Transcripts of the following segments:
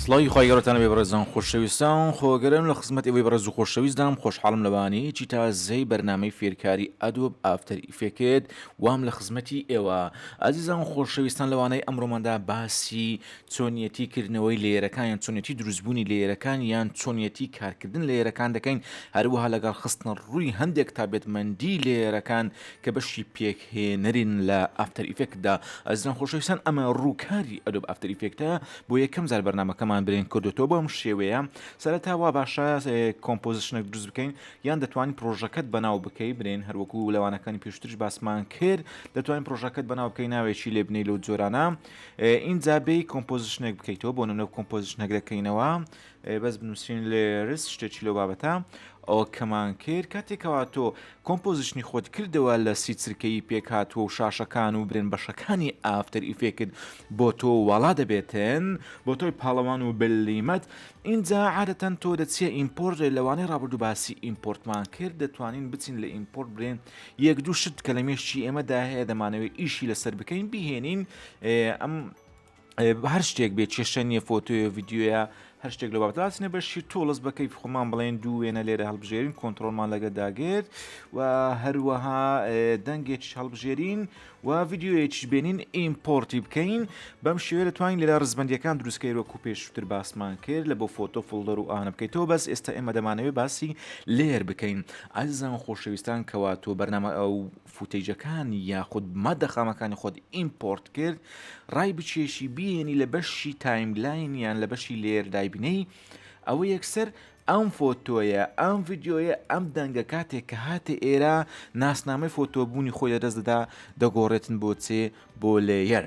سڵی خی گەڕتان بێ بەڕێزان خۆشەویستان خۆگەرم لە خزمەت ئەوەی بەڕێز و خۆشەویستدام خۆشحاڵم لەوانەیەکی تازەی بەرنمەی فێرکاری ئەدۆب ئافتەر ئیفێکێت وام لە خزمەتی ئێوە ئازیزان و خۆشەویستان لەوانەی ئەمڕۆماندا باسی چۆنیەتی کردنەوەی لێرەکان یان چۆنیەتی دروستبوونی لێرەکان یان چۆنیەتی کارکردن لێرەکان دەکەین هەروەها لەگەڵ خستنە ڕووی هەندێک تابێتمەندی لێرەکان کە بەشی پێکهێنەرین لە ئافتەر ئیفێکتدا ئەزیزان خۆشەویستان ئەمە ڕووکاری ئەدۆب ئافتەر ئیفێکتە بۆ یەکەم جار بەرنمەکەمان برێن کردوتەوە بەم شێوەیە سەرەتا وا باشە کۆمپۆزیشنێک دروست بکەین یان دەتوانی پڕۆژەکەت بەناو بکەی برێن هەروەکو لەوانەکانی پێشترش باسمان کرد دەتوانین پڕۆژەکەت بەناو بکەی ناوێکی لێ بنەی لەو جۆرانە ئینجا بێ کۆمپۆزیشنێک بکەیتەوە بۆ نمونە کۆمپۆزیشنەک دەکەینەوە بەس بنووسین لێرس شتێکی لەو بابەتە ئەو کەمان کرد کاتێکەوە تۆ کۆمپۆزیشنی خۆت کردەوە لە سی چرکەی پێکاتوە و شاشەکان و برێن بەشەکانی ئافتەر ئیفێکت بۆ تۆ واڵا دەبێتن بۆ تۆی پاڵەوان و بلیمەت ئینجا عادەتەن تۆ دەچیە ئیمپۆرت لە لەوانەی ڕابردوو باسی ئیمپۆرتمان کرد دەتوانین بچین لە ئیمپۆرت برێن یەک دوو شت کە لە مێشکی ئێمەدا هەیە دەمانەوەی ئیشی لەسەر بکەین بهێنین ئەم هەر شتێک بێت کێشە نیە فۆتۆە ڤیددیوە هەر شتێک لە بابداسنە بەشی تۆڵس بەکەی خۆمان بڵێن دوو وێنە لێرە هەڵبژێرین کۆنتترۆلمان لەگە داگرێت و هەروەها دەنگێک هەڵبژێرین و ڤیدیۆیەکیش بێنین ئیمپۆرتی بکەین بەم شێوێ دەتوانین لێرا ڕزبندیەکان دروستکەی وەکو پێشتر باسمان کرد لە بۆ فۆتۆ فڵدەر و ئانە بکەیتەوە بەس ئێستا ئێمە دەمانەوێ باسی لێر بکەین ئازان خۆشەویستان کەوا تۆ بەرنامە ئەو فوتەیجەکان یاخود مادە خامەکانی خۆت ئیمپۆرت کرد ڕای بچێشی بینی لە بەشی تایملاین یان لە بەشی لێر دایبنەی ئەوە یەکسەر ئەم فۆتۆیە ئەم ڤیدیۆیە ئەم دەنگە کاتێک کە هاتە ئێرە ناسنامەی فۆتۆ بوونی خۆی لەدەست دەدا دەگۆڕێتن بۆ چێ بۆ لەیەر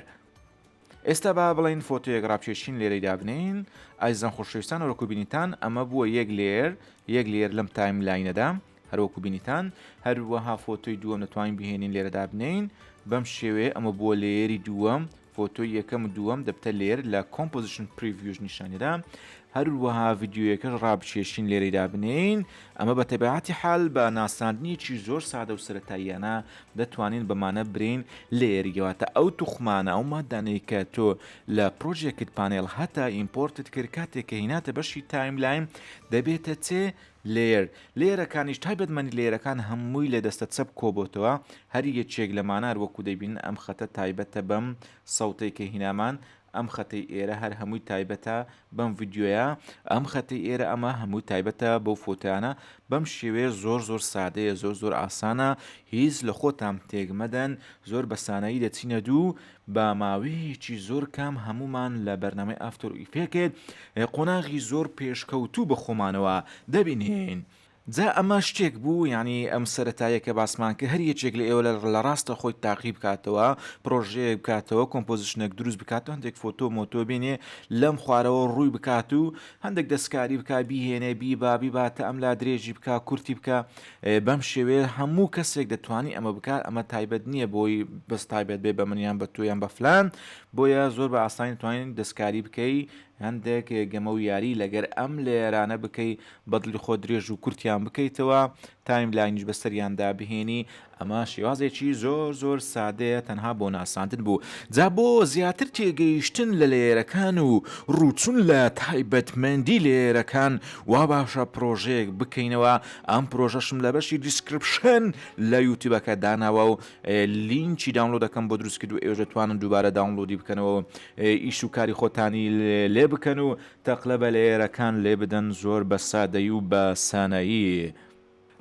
ئێستا با بڵین فۆتۆیەک ڕاپچێشین لێرەی دابنین ئایزان خۆشەویستان وەکوبینیتان ئەمە بووە یەک لێر یەک لێر لەم تایم لاینەدا هەروەکو بینیتان هەروەها فۆتۆی دووەم دەتوانین بهێنین لێرە دابنێین بەم شێوەیە ئەمە بووە لێری دووەم فۆتۆی یەکەم و دووەم دەبتە لێر لە کۆمپۆزیشن پریڤژ نیشانیدا هەروەها ڤیددیوەکەش ڕابچێشین لێرەی دابنین ئەمە بە تەبعاتی حال بە ناساندنیەکی زۆر سادە و سەتاییانە دەتوانین بەمانە برین لێریەوەتە ئەو توخمانە ئەو مادانەی کە تۆ لە پرۆژێکت پانێڵ هەتا ئیمپۆرتت کرد کاتێک کە هیناتە بەشی تایملاین دەبێتە چێ Layer، لەیەرەکانیش تایبەتمەندی لەیەرەکان هەمووی لە دەستە چەپ کۆبۆتەوە، هەر یەکێک لەمانار وەکو دەیبینن ئەم خەتە تایبەتە بەم سەوتەی کە هینامان، ئەم خەتەی ئێرە هەر هەمووی تایبەتە بەم ڤیدیۆیە، ئەم خەتەی ئێرە ئەمە هەمووی تایبەتە بەو فۆتۆیانە، بەم شێوەیە زۆر زۆر سادەیە زۆر زۆر ئاسانە هیچ لە خۆتان تێک مەدەن زۆر بەسانایی دەچینە دوو با ماوەیەکی زۆر کام هەموومان لە بەرنامەی ئافتۆر ئیفێکت قۆناغی زۆر پێشکەوتوو بە خۆمانەوە دەبینین. جا ئەمە شتێک بوو یانی ئەم سەرەتایە کە باسمان کرد هەر یەکێک لە ئێوە لە ڕاستە خۆی تاقی بکاتەوە پرۆژەیەک بکاتەوە کۆمپۆزیشنێک دروست بکاتەوە هەندێک فۆتۆ مۆتۆ بینێ لەم خوارەوە ڕووی بکات و هەندێک دەستکاری بکا بیهێنێ بیبا بیباتە ئەم لا درێژی بکا کورتی بکە بەم شێوەیە هەموو کەسێک دەتوانی ئەمە بکات ئەمە تایبەت نییە بۆی بەس تایبەت بێ بە منیان بە تۆیان بە فلان بۆیە زۆر بە ئاسانی توانین دەستکاری بکەی هەندێک گەمە و یاری لەگەر ئەم لێرانە بکەی بەدڵی خۆ درێژ و کورتیان بکەیتەوە تایم لاینیش بەسەریاندا بهێنی ئەمە شێوازێکی زۆر زۆر سادەیە تەنها بۆ ناساندن بوو جا بۆ زیاتر تێگەیشتن لە لێرەکان و ڕوچون لە تایبەتمەندی لێرەکان وا باشە پرۆژەیەک بکەینەوە ئەم پرۆژەشم لە بەشی دیسکرپشن لە یوتیوبەکە داناوە و لینکی داونلۆ دەکەم بۆ دروست کرد و ئێوە دەتوانن دووبارە داونلۆدی بکەنەوە و ئیش و کاری خۆتانی لێ بکەن و تەقلە بە لەیەرەکان لێ بدەن زۆر بە سادەی و بە سانایی.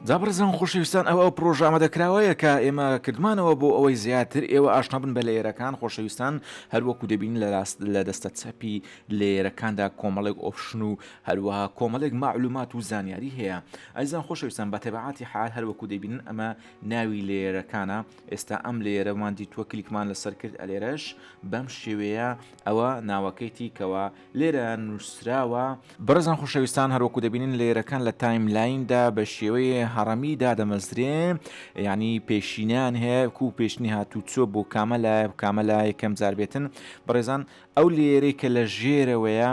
جابرزان خۆشەویستان ئەو ئەو پرۆژە ئامادەکراوەیە کە ئێمە کردمانەوە بۆ ئەوەی زیاتر ئێوە ئاشنا بن بە لەیەرەکان خۆشەویستان هەروەکو دەبین لە راست لە دەستە چەپی لەیەرەکاندا کۆمەڵێک ئۆپشن و هەروەها کۆمەلێک مە علومات و زانیاری هەیە ئەزیزان خۆشەویستان بە تەبعاتی حال هەروەکو دەیبینن ئەمە ناوی لێیەرەکانە ئێستا ئەم لێیەرەمان دیتووە کلیکمان لەسەر کرد ئەلێرەش بەم شێوەیە ئەوە ناوەکەیتی کەوا لێرە نووسراوە بەڕێزان خۆشەویستان هەروەکو دەبینن لێیەرەکان لە تایم لایندا بە شێوەیە هەڕەمی دادەمەزرێ یعنی پێشینان هەیە کو پێشنی هاتوو چۆ بۆ کامە لایە کامە لایە کەم جار بێتن بەڕێزان ئەو لێیەرەی کە لە ژێرەوەیە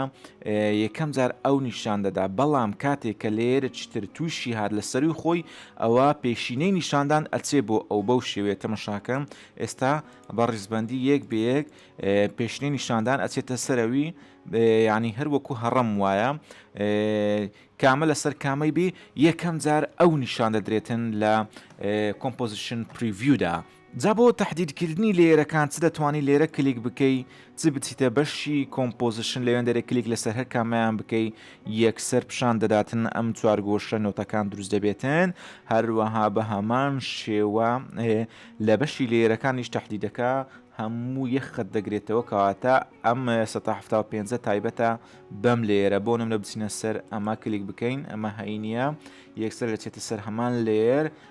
یەکەم جار ئەو نیشان دەدا بەڵام کاتێک کە لێرە چتر تووشی هاات لە سەروی خۆی ئەوە پێشینەی نیشاندان ئەچێ بۆ ئەو بەو شێوێت تەمەشاکەم ئێستا بە ڕیزبندی یەک بەیەک پێشنەی نیشاندان ئەچێتە سەرەوی ینی هەروەکو هەڕم وایە کامە لەسەر کامەی بێ یەکەم جار ئەو نیشان دەدرێتن لە کۆمپۆزیشن پریڤیودا جا بۆ تەحدید کردنی لەیەرەکان چ دەتوانی لێرە کلیک بکەی چ بچیتە بەشی کۆمپۆزشن لەوێن دەرێ کلیک لەسەر هەر کامەیان بکەی یەکسەر پیشان دەداتن ئەم چوارگۆشە نۆتەکان دروست دەبێتن هەروەها بە هەمان شێوە لە بەشی لێرەکانیش تهدیدەکە هەموو یەخت دەگرێتەوە کەواتە ئەم 1970 تایبەتە بەم لێرە بۆ نم لە بچینە سەر ئەمە کلیک بکەین ئەمە هەینە یەکسەر دەچێتە سەر هەمان لێر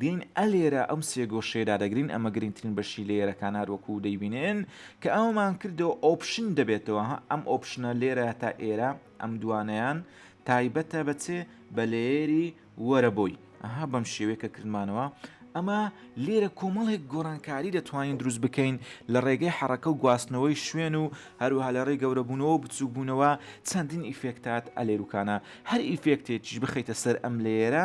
دێین ئەلێرە ئەم سێ گۆشەیە دادەگرین ئەمە گرنگترین بەشی لەیەرەکانە هەروەکو دەیبینن کە ئەوەمان کردەوە ئۆپشن دەبێتەوە ها ئەم ئۆپشنە لێرە تا ئێرە ئەم دوانەیان تایبەتە بە چێ بە لەیەری وەرە بۆی ئەها بەم شێوەیە کە کردمانەوە ئەمە لێرە کۆمەڵێک گۆڕانکاری دەتوانین دروست بکەین لە ڕێگەی حەڕەکە و گواستنەوەی شوێن و هەروها لە ڕێ گەورەبوونەوە بچووکبوونەوە چەندین ئیفێکتات ئەلێروکانە هەر ئیفێکتێکیش بخیتە سەر ئەم لێرە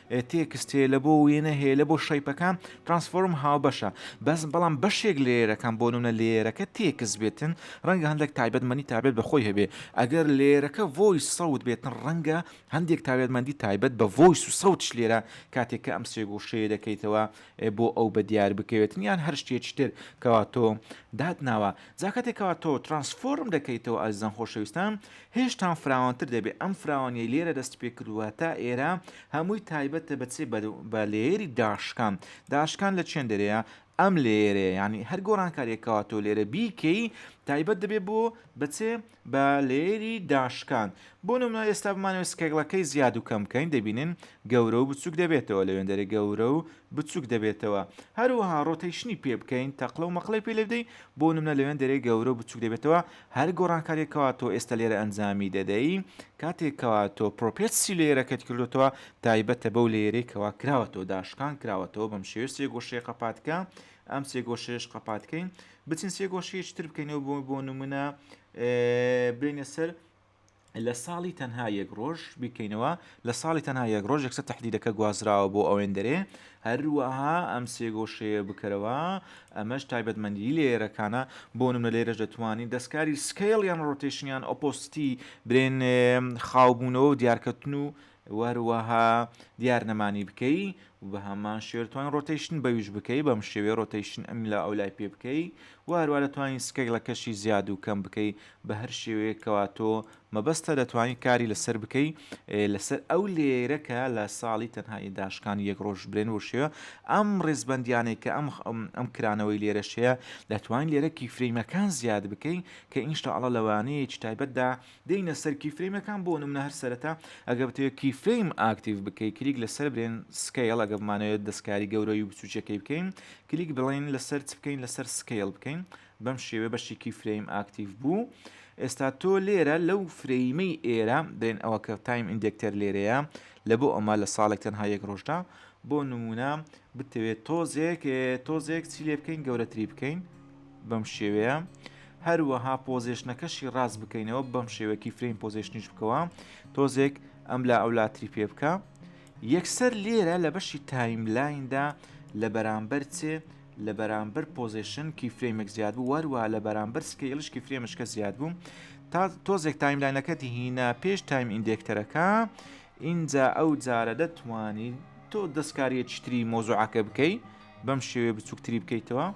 تێکست هەیە لە بۆ وێنە هەیە لە بۆ شەیپەکان ترانسفۆرم هاوبەشە بەس بەڵام بەشێک لێرەکان بۆ نمونە لێرەکە تێکست بێتن ڕەنگە هەندێک تایبەتمەنی تابێت بە خۆی هەبێ ئەگەر لێرەکە ڤۆیس سەوت بێتن ڕەنگە هەندێک تاوێتمەندی تایبەت بە ڤۆیس و سەوتش لێرە کاتێک کە ئەم سێگۆشەیە دەکەیتەوە بۆ ئەو بە دیار بکەوێتن یان هەر شتێکی تر کەوا تۆ دات ناوە جاکاتێکەوە تۆ ترانسفۆرم دەکەیتەوە ئەزان خۆشەویستان هێشتان فراوانتر دەبێت، ئەم فراوانیەی لێرە دەستپێکردووە تا ئێرە هەمووی تایبەتە بە چێ بە لێیەری داشکان، داشکان لە چێندەرەیە ئەم لێیەرەیە یانی هەر گۆڕانکاریەک کەوا تۆ لێرە بیکەی تایبەت دەبێت بۆ بە چێ بە لێیەری داشکان بۆ نمونە ئێستا بمانەوە سکێگڵەکەی زیاد و کەم کەین دەبینن گەورە و بچوک دەبێتەوە لەوێندەرە گەورە و بچوک دەبێتەوە هەروەها ڕۆتەیشنی پێ بکەین تەقلە و مەقلەی پێ لێ بدەین بۆ نمونە لەوێن دەرێ گەورە و بچوک دەبێتەوە هەر گۆڕانکاریەک کەوا تۆ ئێستا لێرە ئەنجامی دەدەی کاتێک کەوا تۆ پرۆپێتسی لەیەرەکەت کردوتەوە تایبەتە بەو لەیەرەی کەوا کراوەتەوە داشکان کراوەتەوە بەم شێوێ سێ گۆشەیە قەپاتکە ئەم سێ گۆشەیەش قەپاتکەین بچین سێ گۆشەیەکی تر بکەینەوە بۆ بۆ نمونە برینە سەر لە ساڵی تەنها یەک ڕۆژ بیکەینەوە لە ساڵی تەنها یەک ڕۆژ یەکسە تهدیدەکە گوازراوە بۆ ئەوێندەرێ هەروەها ئەم سێگۆشەیە بکەرەوە ئەمەش تایبەتمەندی لێرەکانە بۆ نمە لێرەش دەتوانین دەستکاری سکیل یان ڕۆتیشنیان ئۆپۆستی برێن خاوبوونەوە و دیارکەتن و وەروەها دیار نەمانی بکەی و بە هەمان شێوە دەتوانی ڕۆتەیشن بەویش بکەی بەم شێوەیە ڕۆتەیشن ئەم لە ئەو لای پێ بکەی و هەروە دەتوانین سکەگڵەکەشی زیاد و کەم بکەی بە هەر شێوەیەک کەوا تۆ مەبەستە دەتوانی کاری لەسەر بکەی لەسەر ئەو لێرە کە لە ساڵی تەنها ی داشکان یەک ڕۆژ برێن بۆ شێوە ئەم ڕێزبەندیانەی کە ئەم ئەم کرانەوەی لێرەشەیە دەتوانین لێرە کیفرەیمەکان زیاد بکەی کە ئینشاءاللە لەوانەیەکی تایبەتدا دێینە سەر کیفرەیمەکان بۆ نمونە هەر سەرەتا ئەگەر بتەوێت کیفرەیم ئاکتیڤ بکەی کلیک لەسەر برێن سکەیڵ ئەگەر بمانەوێت دەستکاری گەورەی و بچوکیەکەی بکەین کلیک بڵێن لەسەر چ بکەین لەسەر سکەیڵ بکەین بەم شێوێ بەشی کیفرەیم ئاکتیڤ بوو ئێستا تۆ لێرە لەو فرەیمەی ئێرە برێن ئەوە کە تایم ئیندێکتەر لێرەیە لە بۆ ئەمە لە ساڵێک تەنها یەک ڕۆژدا بۆ نمونە بتەوێت تۆزێک تۆزێک چی لێ بکەین گەورەتری بکەین بەم شێوەیە هەروەها پۆزیشنەکەشی ڕاست بکەینەوە بەم شێوەکی فرین پۆزیشنیش بکەوە تۆزێک ئەم لا ئەو لاتری پێ بکە یەکسەر لێرە لە بەشی تایملایندا لە بەرامبەر چێ لە بەرامبەر پۆزیشن کی فرێمێک زیاد بوو وەروە لە بەرامبەر سکەیلشکی فرێمشکە زیاد بوو تا تۆزێک تایملاینەکەتی هینا پێش تایم ئیندێکتەرەکە ئینجا ئەو جارە دەتوانی تۆ دەستکاریەکی تری مۆزوعەکە بکەی بەم شێوێ بچووکتری بکەیتەوە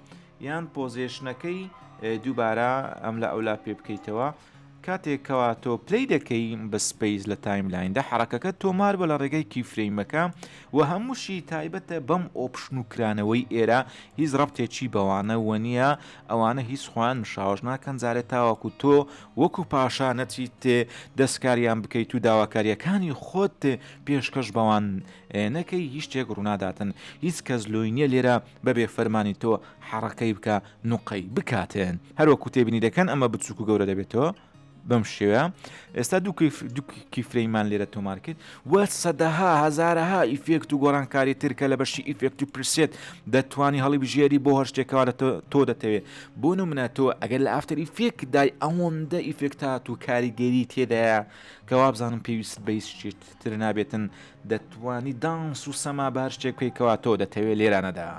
یان پۆزێشنەکەی دووبارە ئەم لە ئەولا پێ بکەیتەوە کاتێک کەوا تۆ پلی دەکەی بە سپیس لە تایملایندا حرەکەکە تۆمار بە لە ڕێگای کیفرەیمەکە و هەمووشی تایبەتە بەم ئۆپشن و کرانەوەی ئێرە هیچ ڕەبتێکی بەوانە وە نییە ئەوانە هیچ خۆیان مشاوەش ناکەن جارێ تاوەکو تۆ وەکو پاشا نەچیت دەسکاریان بکەیت و داواکاریەکانی خۆت پێشکەش بەوان نەکەی هیچ شتێک ڕووناداتن هیچ کەس لۆی نیە لێرە بەبێ فەرمانی تۆ حەڕەکەی بکە نوقەی بکاتێن هەروەکو تێبینی دەکەن ئەمە بچووک و گەورە دەبێتەوە بەم شێوە ئێستا دوو کیفرەیمان لێرە تۆمارکرد و سەدەها هەزارەها ئیفێکت و گۆرانکاری تر کە لە بەشی ئیفێکت و پریسێت دەتوانی هەڵیبژێری بۆ هەر شتێک کەوا تۆ دەتەوێ بۆ نمونە تۆ ئەگەر لە ئافتەر ئیفێکت دای ئەوەندە ئیفێکت هات و کاریگەری تێدایە کە وابزانم پێویست بە هیچ شتێک تر نابێتن دەتوانی دانس و سەما بە هەر شتێک بکەی کەوا تۆ دەتەوێ لێرانەدا.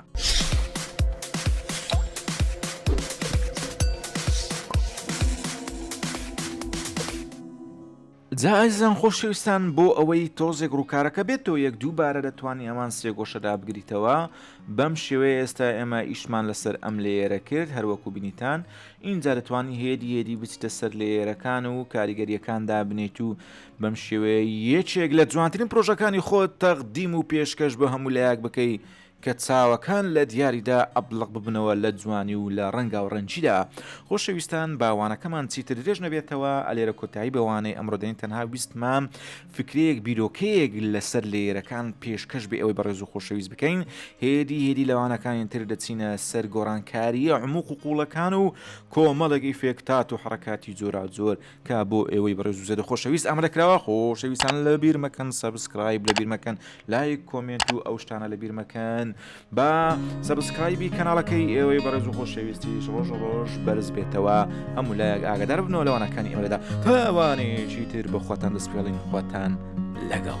جا ئازیزان خۆشەویستان بۆ ئەوەی تۆزێک ڕووکارەکە بێتەوە یەک دوو بارە دەتوانی ئەمان سێگۆشە دابگریتەوە بەم شێوەیە ئێستا ئێمە ئیشمان لەسەر ئەم لێیەرە کرد هەروەکو بینیتان ئینجا دەتوانی هێدی هێدی بچتە سەر لێیەرەکان و کاریگەریەکان دابنێیت و بەم شێوەیە یەکێک لە جوانترین پرۆژەکانی خۆت تەقدیم و پێشکەش بە هەموو لایەک بکەی کە چاوەکان لە دیاریدا ئەبڵەق ببنەوە لە جوانی و لە ڕەنگاو ڕەنگیدا خۆشەویستان با وانەکەمان چیتر درێژ نەبێتەوە ئەلێرە کۆتایی بە وانەی ئەمڕۆ دێن تەنها ویستمام فکرەیەک بیرۆکەیەک لەسەر لێیرەکان پێشکەش بێ ئەوەی بەڕێز و خۆشەویست بکەین هێدی هێدی لە وانەکانی تر دەچینە سەر گۆڕانکاریە عموق و قوڵەکان و کۆمەڵێک ئیفێکتات و حڕکاتی جۆراوجۆر کا بۆ ئێوەی بەڕێز و زێدە خۆشەویست ئامادە کراوە خۆشەویستان لە بیر مەکەن سەبسکرایب لە بیر مەکەن لایک کۆمێنت و ئەو شتانە لە بیر مەکەن با سەبسکرایبی کەناڵەکەی ئێوەی بەڕێز و خۆشەویستیش ڕۆژ ڕۆژ بەرز بێتەوە هەموو لایەک ئاگدار بنەوە لەوانەکانی ئێمەدا تاوانێکی تر بە خۆتان دەستپێڵین خۆتان لەگەڵ.